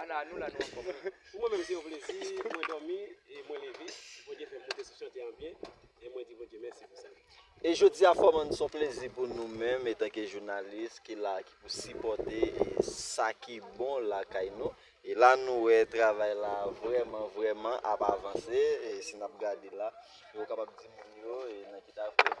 Ana nou la nou anfom wi. Pou mwen menm se yon plezi pou mwen domi e mwen leve Bondye fèm moute sou chante an byen e mwen di Bondye mèsi pou sa. E jodia fò man son plezi pou nou menm etanke jounalis ki la ki pou sipòte e sa ki bon lakay nou e la nou wè travay la vrèman vrèman ap avanse e si nap gade la e ou kapab di moun yo e nan ki ta vre.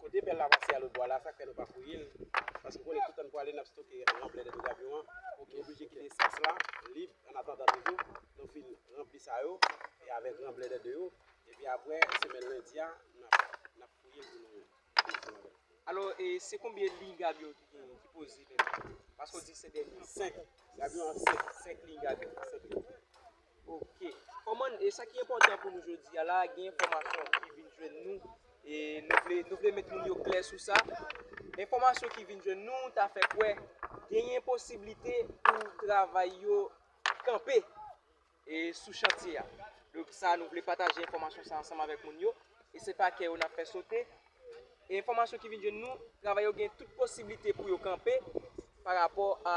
Kote bèl la pase a lòt bwa la, sak fè nou pa fouye l, paske nou konnen toutan n pwale n ap stoke anplè dènn kamyon an, pou ki oblije kite espas la lib an atandan toujou nou fin ranpli sa yo e avèk ranblè dè 2 yo epi aprè semèn lendi a n ap n ap fouye l pou nou fini ansanm avè l. Alò e se konbyen liy gabyon ki gen ki poze menm? Paske w di se dènye. 5, gabyon an 5, 5 liy gabyon, 5 liy. Ok. Kòman, e sa ki enpòtan pou nou jodi a la, gen enfòmasyon ki vin jwenn nou, e nou vle, nou vle met moun yo klè sou sa. Enfòmasyon ki vin jwenn nou ta fè kwè genyen posiblite pou travay yo kanpe e sou chantye a. Donk sa nou vle pataje enfòmasyon sa ansanm avèk moun yo. E se pa kè yo n ap fè sote. Enfòmasyon ki vin jwenn nou, travayè yo gen tout posiblite pou yo kanpe pa rapò a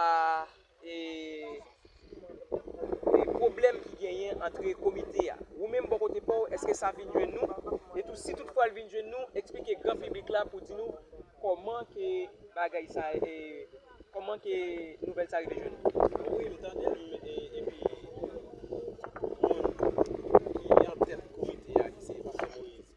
pwoblèm ki genyen antre komite a. Ou menm bò kote pa w, èske sa vin jwenn nou? E tou si tout fwa l vin jwenn nou, eksplike gran piblik la pou di nou kòman ke bagay sa, kòman ke nouvèl sa rive jwenn nou. Wi, m tande l epi moun ki antèt komite a ki se Pastè Moyiz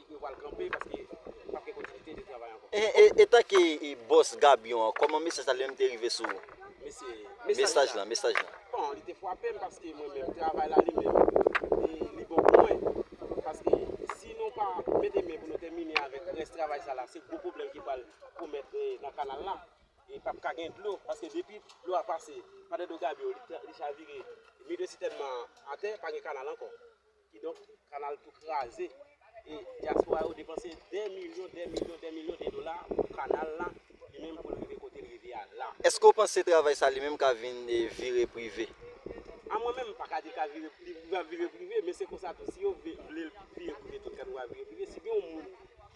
Yo pral kanpe paske pap gen kontinite de travay ankò. Etanke bòs Gabyon an kòman mesaj sa li menm te rive sou ou? Mesaj la? Mesaj la? Bon li te fwape m paske mwen menm travay la li menm li bon pou mwen paske si nou pa mete men pou nou tèmine avèk rès travay sa la se gwo pwoblèm ki pral komèt nan kanal la e pap ka gen dlo paske depi dlo a pase pa dèdò Gabyon li chavire mide sitèn nan atè pa gen kanal ankò. Kidonk, kanal tou kraze e dyaspora yo depanse dè milyon, dè milyon, dè milyon de dola pou kanal la, li menm pou l rive kote l rive a la. Eske w panse travay sa li menm ka vin vire prive? A mwen menm, m pa ka di l ka vire, li pral vire prive, men se konsa tou si yo vle l vire prive tout kanal pral vire prive. Si gen yon moun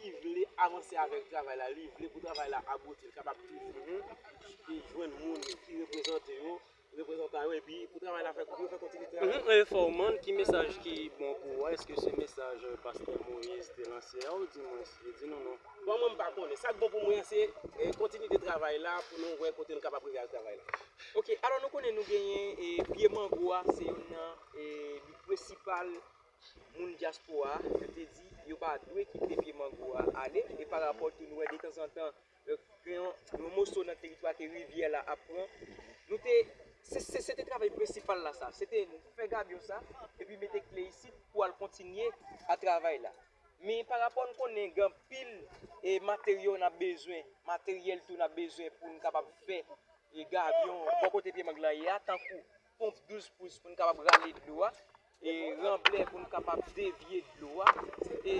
ki vle avanse avèk travay la, li vle pou travay la abouti, l kapab toujou jwenn moun ki reprezante yo. reprezantan yo epi pou travay la fè pou yo fè kontinye travay la. Mwen fè w mand ki mesaj ki bon pou ou a eske se mesaj pastè Moïse te lanse a ou di mwen li di nou non. Bon mwen m pa konnen sak bon pou mwen an se kontinite travay la pou nou wè kote nou kapab rive ak travay la. Ok alò nou konnen nou genyen e pye mango a se youn nan e prensipal moun dyaspora yo te di yo pa dwe kite pye mango a ale e parapò tou nou wè detanzantan Donk gen yon moso nan teritwa ke rivyè la ap pran. Nou te, se te travay prensipal la sa. Se te fè gabyon sa, epi mete kle isit pou al kontinye a travay la. Men pa rapò n konnen gen anpil e materyo n ap bezwen, materyèl tou n ap bezwen pou n kapab fè gabyon bò kote pye mang lan ye a tankou. Ponp 12 pous pou n kapab rale dlo a. E ranblè pou n kapab devye dlo a. E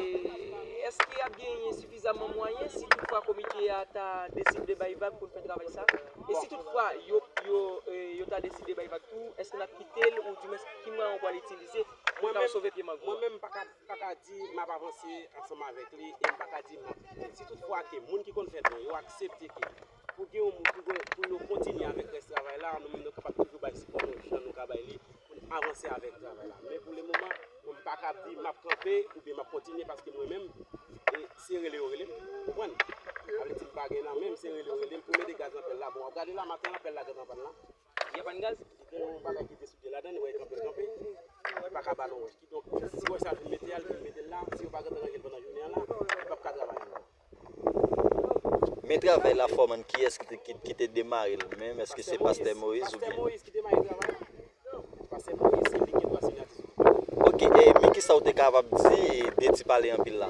eske ap genyen sifizaman mwayen si tout fwa komite a ta deside bay vag pou n fè travay sa? E si tout fwa yo ta deside bay vag tou, eske n ap kite l ou di mwens ki mwayen ou pral itilize pou n kapab sove pye mangro a? Mwen menm m pa ka di m ap avanse ansanm avèk li e m pa ka di m ap kite l. Si tout fwa ke moun ki konn fè don yo aksepte ke. Pou gen yon moun ki kwè pou yo kontinye avèk rès travay la, nou menm nou kapab toujou bay sipò nou jan nou ka bay li pou n avanse avèk travay la. Men pou lemoman, mwen pa kab di m ap kanpe oubyen m ap kontinye paske mwen menm, se rele yo rele m, ou konprann? Sa vle di m pa gen nan men m, se rele yo rele m pou mete gaz nan pèl la. Bon, w ap gade la maten an, pèl la gentan pann la. Li pa pann gaz? Li gen yon bagay ki te soude ladan li, wè l kanpe l kanpe, li pa ka ba nou wòch. Kidonk, si wòch sa fin mete a, li fin mete l la, si yo pa gentan ranje l pandan jounen an la, li p ap ka travay ankò. Men travay la foreman kiyes ki te demarel menm eske se pastè moise ou byen. Ok e men kisa ou te kapab di de ti pale anpil la.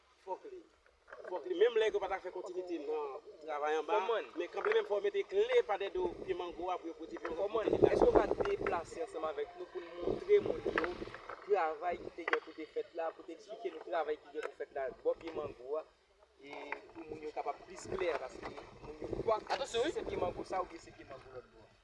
Fòk li Fòk li menm lè yo pa ta fè kontinite nan travay anba a Fòman Men kanpe menm fò yo mete kle pa dèdo pye mango a pou yo pwodui pye mango a Fòman Èske ou ka deplase ansanm avèk nou pou n montre moun yo travay ki te gen pou te fèt la pou te eksplike nou travay ki gen pou fèt la bò pye mango a e pou moun yo kapab plis klè paske moun yo kwak Atansyon wi se pye mango sa oubyen se pye mango lòt bò a.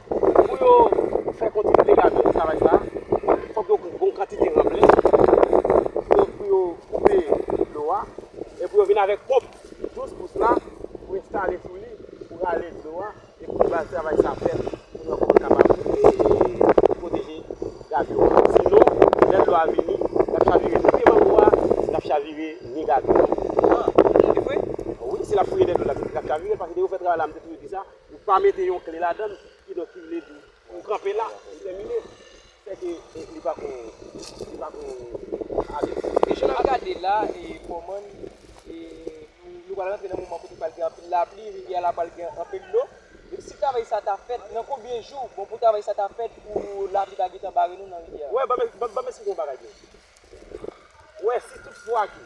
Pou yo fè kontinye degajman eskavaj sa, fòk yo gen yon kantite ranblè pou yo koupe dlo a, e pou yo vin avèk ponp 12 pous la pou enstale sou li pou rale dlo a, e pou bay travay sa pèt pou yo ankò kapab pwoteje gabion an. Sinon, lè dlo a vini, l ap chavire tout pye mango a, l ap chavire ni gabion an. An, e vre? Wi, si l ap fouye dèdlo l ap chavire l, paske depi yo fè travay la, m te toujou di sa. Ou pa mete yon kle ladann, kidonk ki vle di ou kanpe la, ou tèmine. Sè ke li pa ko, li pa ko ale. E jan n ap gade la, Fòmann, nou pral rantre nan moman kote pral gen anpil lapli, rivyè a la pral gen anpil dlo. Epi si travay sa ta fèt, nan konbyen jou bon pou travay sa ta fèt pou lapli pa gentan bare nou nan rivyè a? Wè, ban m esplike yon bagay pou ou. Wè, si tout fwa ke.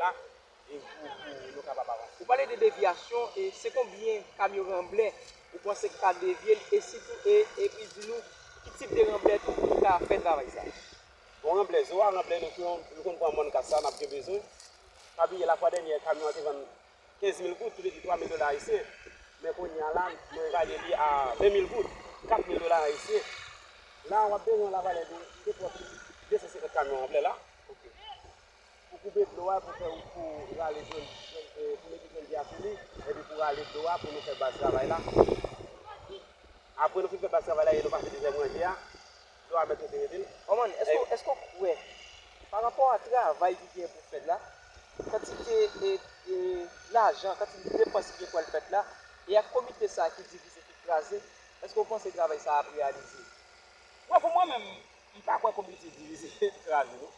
la e pou pou nou kapab avanse. Ou pale de devyasyon e se konbyen kamyon ranblè ou panse ki ka devye li e sitou e epi di nou ki tip de ranblè tou ki ka fè travay sa. Bon ranblè, zo a ranblè nou pran nou konn pran mòn kasa nap gen bezwen. Pa bliye la fwa dènyè kamyon an te vann 15 mil goud, ki vle di 3 mil dola ayisyen. Men kounye a la nou evalye li a 20 mil goud, 4 mil dola ayisyen. La wap bezwen la valè de 2 pòt 250 kamyon ranblè la. Pou koupe dlo a pou fè wout pou rale jwenn pou mete jwenn di a sou li epi pou rale dlo a pou nou fè baz travay la apre nou fin fè baz travay la e nou pase dezyèm ranje a dlo a mèt rete rete l Manman, èske w kwè, pa rapò a travay ki gen pou fèt la, kantite lajan, kantite depans ki gen pou al fèt la, e ak komite sa ki divize, ki kraze, èske w panse travay sa ap reyalize? Bon, pou mwen menm, m pa kwè komite divize, kraze non.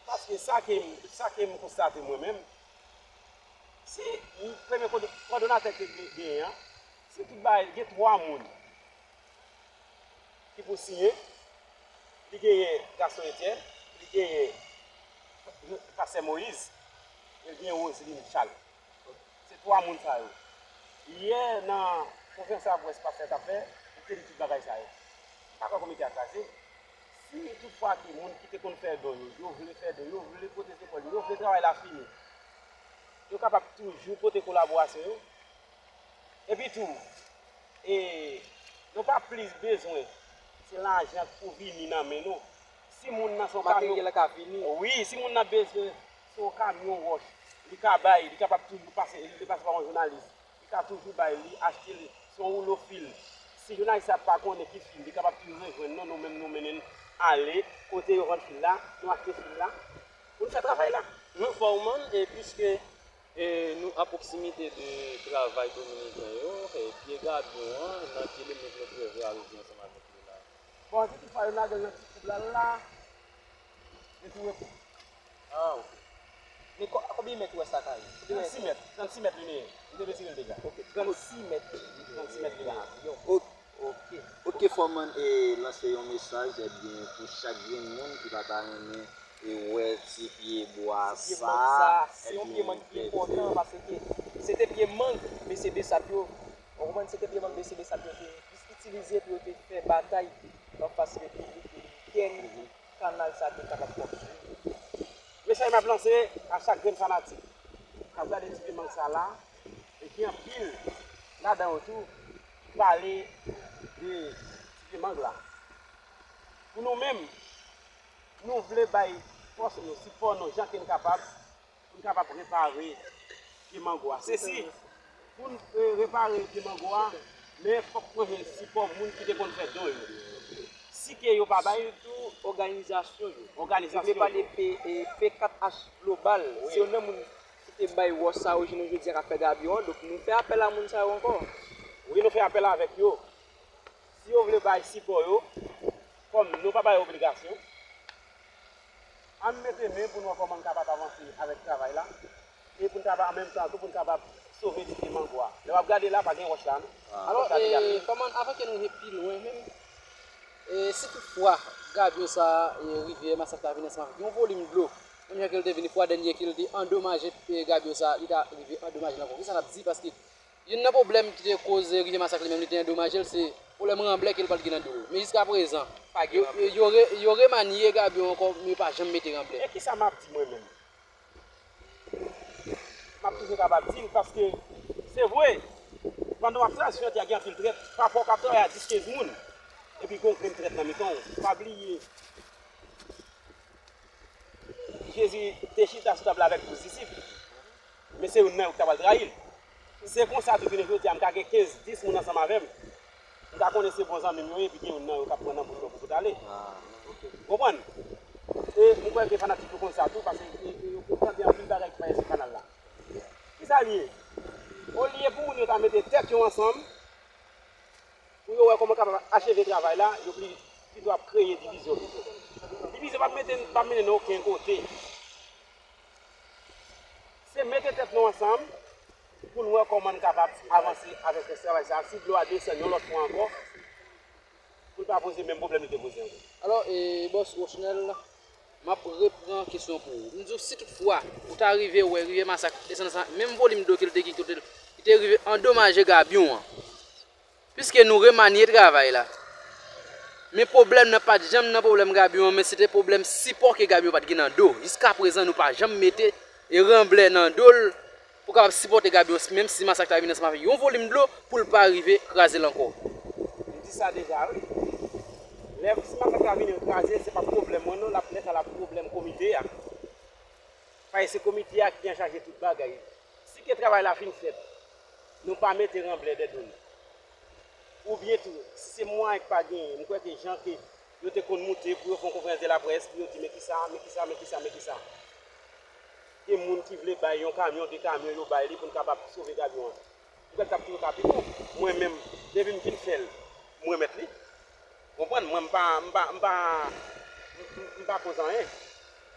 Paske sa ke m, sa ke m konstate mwen menm, si premye kòdonatè ke nou genyen an, si tout bagay, gen 3 moun ki pou siyen, li genyen Gaston Etienne, li genyen Pastè Moïse, e li genyen Roseline Charles. Se 3 moun sa yo. Yè nan konferans la près pastè t ap fè, li te di tout bagay sa yo. M pa kwè komite a kraze. Si tout fwa ke moun ki te konn fè don yo, yo vle fè don, yo vle pote zepòl yo, yo vle travay la fini, yo kapab toujou pote kolaborasyon yo. Epi tou, e, nou pa plis bezwen se lajan k pou vini nan men nou. Si moun nan se yon kamyon. Materyèl la ka vini. Wi, si moun nan bezwen se yon kamyon wòch, li ka bay, li kapab toujou pase, li vle pase pa yon jounalis, Li ka toujou bay li achte li se yon woulo fil si jounalis la pa konnen ki fil li kapab toujou rejwenn nou nou menm nou mennen l ale kote yo vann fil la nou achte fil la pou n fè travay la. Nou Foreman e piske nou a pwoksimite de travay dominiken yo pye gadon an nan ki limit nou prevwa rive ansanm avèk li la? Bon anti tout fwa yo lage l nan ti koub la la. Li tou repon. Ah ok. Men konbyen mèt ou wè sa ka ye? 36 mèt. 36 mèt li meye. Li te retirel deja. Ok 36 mèt. 36 mèt li meye. Ok. Ou t k fè man e lanse yon mesaj ebyen pou chak grenn moun ki pa ta renmen e wè ti pye bwa sa. Ti pye mang sa. Se yon pye mang ki enpòtan paske se te pye mang mesye Bsap yo. Ou konprann? Se te pye mang mesye Bsap yo te plis itilize pou yo te fè batay anfas Repiblik Dominikèn. Kanal sa te kapab konstwi. Mesaj map lanse a chak grenn fanatik kap gade ti film sa la e gen anpil ladan yo tou ki pale de ti film la. Pou nou menm nou vle bay fòs nou, sipò nou jan ke nou kapab. Pou n kapab repare pye mango a. Se si, pou n repare pye mango a, men fòk mwen jwenn sipò moun ki te konn fè don yo. Si ke yo pa bay. Sitou òganizasyon yo. Òganizasyon yo. Mwen vle pale de P4H Global. Wi. Se youn nan moun ki te bay wòch sa yo jounen jodi a k ap fè gabyon an. Donk nou fè apèl a moun sa yo ankò. Wi nou fè apèl avèk yo. Si yo vle bay sipò yo, kòm nou pa bay obligasyon, ann mete men pou n wè kòman n kapab avanse avèk travay la e pou n kapab an menm tan tou pou n kapab sove dike mango a. Lè w ap gade la, pa gen wòch la non. Alò, kòman, avan ke nou rive pi lwen menm, si tout fwa gabyo sa a, rivyè Masak la vin ansanm avèk yon volim dlo, menm jan ke l te vini fwa dènye ke l te andomaje gabyo sa a, li ta rive andomaje l ankò, kisa n ap di? Paske. Youn nan pwoblèm ki te koze rive masak li menm li te andomaje l se pwoblèm ranblè ke l pat gen nan do l. Men jiska prezan, yo remanye gabyon ankò men yo pa janm mete ranblè. E kisa m ap di mwen menm? M ap toujou kapab di l paske se vre pandan w ap tras jodi a gen anpil trèt pafwa w ka travay a dis kenz moun epi gen yon grenn trèt nan mitan w. Pa bliye Jezi te chita sou tab la avèk douz disip. Men se youn nan yo ki ta pral trayi l. Se konsa tou jounen jodi a m ka gen 15, 10 moun ansanm avè m, m ka konnen se bon zanmi m yo ye epi gen youn nan yo k ap pran nan boul mwen pou m boutale. Ou konprann? E m kwè ke fanatik yo konn sa tou paske yo konn tande anpil bagay ki pa ye sou kanal la. Ki sa l ye? Olye pou moun yo ta mete tèt yo ansanm pou yo wè kòman yo kapab acheve travay la, yo pito ap kreye divizyon pito. Divizyon p ap mennen n oken kote. Se mete tèt nou ansanm pou n wè kòman n kapab avanse avèk rès travay sa a si dlo a desann yon lòt fwa ankò pou l pa poze menm pwoblèm li te poze ankò. Alò, Bòs Rochnel, m ap repran kesyon pou ou. M di w si tout fwa ou ta rive wè rivyè Masak desann san menm volim dlo ke l te gen kote l te rive andomaje gabyon an, Piske nou remanye travay la. Men pwoblèm nan pat janm nan pwoblèm Gabion an men se te pwoblèm sipò ke Gabion pat gen nan do. Jiskaprezan nou pa janm mete e ranblè nan do l pou kapab sipòte Gabion menm si masak ta vin ansanm avèk yon volim dlo pou l pa rive kraze l ankò. M di sa deja wi. Lè si masak la vini kraze l se pap pwoblèm mwen non lè sa lap pwoblèm komite a. Paske se komite a ki anchaje tout bagay. Si ke travay la fin fèt. Nou pa mete ranblè dè do nou. Ou byen tou, se mwayen k pa genyen. M kwè ke jan ke yo te konn moute pou yo fè yon konferans de la près pou yo di men ki sa, men ki sa, men ki sa, men ki sa. Gen moun ki vle bay yon kamyon, 2 kamyon yo bay li pou n kapab sove gabyon an. M kwè l t ap toujou ka pi bon. Mwen menm, depi m fin fè l, m remèt li. Ou konprann? Mwen m pa, m pa, m pa, m pa koz anyen.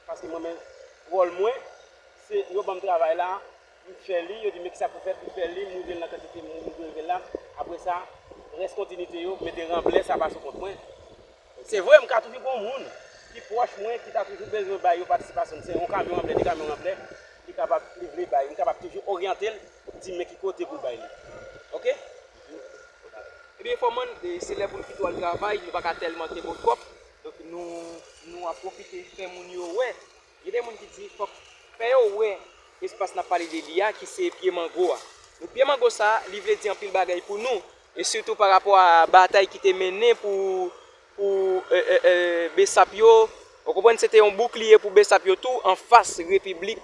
Paske mwen menm, wòl mwen, se yo ban m travay la, Pou fè li, yo di men kisa pou fè pou fè li, moule l nan kantite moun ou dwe moule la, apre sa, rès kontinite yo, mete ranblè sa pa sou kont mwen. Se vre, m ka toujou gen yon moun ki pwòch mwen ki ta toujou bezwen bay yo patisipasyon, se yon kamyon ranblè, 2 kamyon ranblè, li kapab, li vle bay, m kapab toujou oryante l, di l men ki kote pou l bay li. Oke? Ebyen enfòman, se lè pou n pito al travay, nou pa ka tèlman te bon twòp, donk nou ap pwofite fè moun yo wè. Gen de moun ki di fòk fè yo wè espas nap pale de li a ki se pye mango a. Donk pye mango sa a li vle di anpil bagay pou nou e sitou pa rapò a batay ki te mennen pou pou besap yo ou konprann se te yon boukliye pou besap yo tou anfas repiblik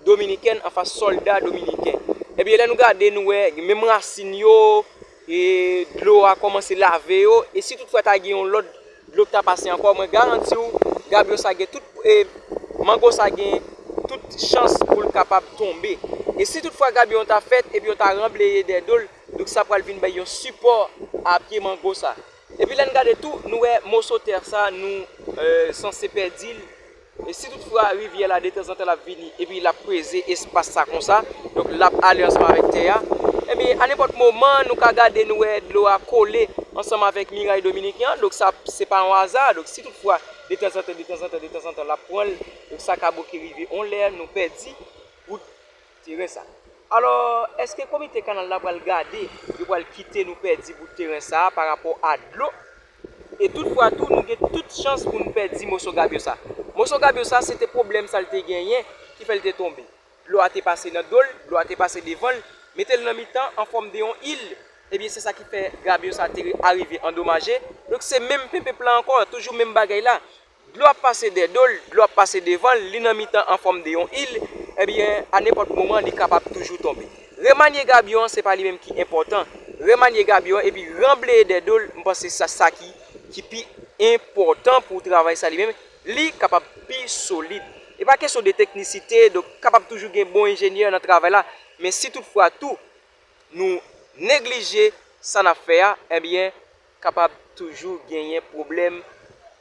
dominikèn anfas sòlda dominiken. Ebyen lè nou gade nou wè menm rasin yo E dlo a kòmanse lave yo, e si tout fwa ta gen yon lòt dlo ki ta pase ankò, mwen garanti w, gabyo sa gen tout, e mango sa gen tout chans pou l kapab tonbe. E si tout fwa gabyo an ta fèt, epi yo ta ranbleye dèyè do l, donk sa pral vin bay yon sipò a pye mango sa. Epi lè n gade tou, nou wè moso tè sa nou sanse pèdi l, E si tout fwa rivyè la detanzantan l ap vini epi l ap peze espas sa konsa, donk l ap ale ansanm avèk tè a, enben anenpòt moman nou ka gade nou wè dlo a kole ansanm avèk miray dominiken an, donk sa se pa yon aza, donk si tout fwa detanzantan detanzantan detanzantan l ap pran l, donk sa ka bo ke rive yon lè nou pèdi wout. teren sa. Alò, èske komite kanal la pral gade, yo pral kite nou pèdi bout teren sa a parapò a dlo? E tout fwa tou, nou gen tout chans pou nou pèdi moso gabyo sa. Moso gabyo sa, se te pwoblèm sa l te genyen ki fè l te tonbe. Dlo a te pase nan do l, dlo a te pase devan l, mete l nan mitan an fòm de yon il, ebyen se sa ki fè gabyo sa te arive andomaje. Donk se menm penpenp lan ankò, toujou menm bagay la. Dlo ap pase dè do l, dlo ap pase devan l, li nan mitan an fòm de yon il, ebyen a nenpòt moman li kapab toujou tonbe. Remanye gabyon an se pa li menm ki enpòtan, remanye gabyon an epi ranbleye dè do l, m panse se sa sa ki ki pi enpòtan pou travay sa li menm, li kapab pi solid. E pa kesyon de teknisite, donk kapab toujou gen bon enjenyè nan travay la, men si tout fwa tou nou neglije sa n ap fè a, ebyen kapab toujou genyen pwoblèm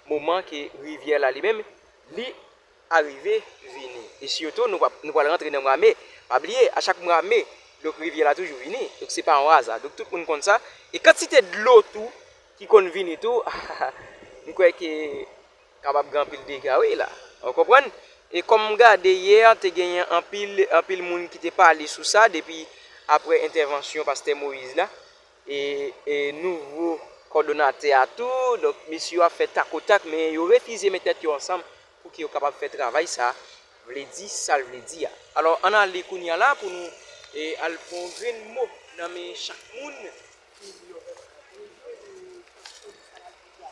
moman ke rivyè la li menm li arive vini e sitou nou pap nou pwal rantre nan mwa me pa bliye a chak mwa me donk rivyè la toujou vini donk se pa yon aza donk tout moun konn sa e kantite dlo tou ki konn vini tou hahaha m kwè ke kapab gen anpil dega wi la ou konprann e kòm m gade yè te genyen anpil anpil moun ki te pale sou sa depi aprè entèvansyon pastè Moïse la. e nouvo kòdonatè a tou, donk mesye yo ap fè tak o tak men yo refize met tèt yo ansanm pou ke yo kapab fè travay sa vle di sa l vle di a. Alò ann ale kounye a la pou nou al pran yon grenn mo nan men chak moun ki di yo menm yo vle pou yo soti sa y ap di a.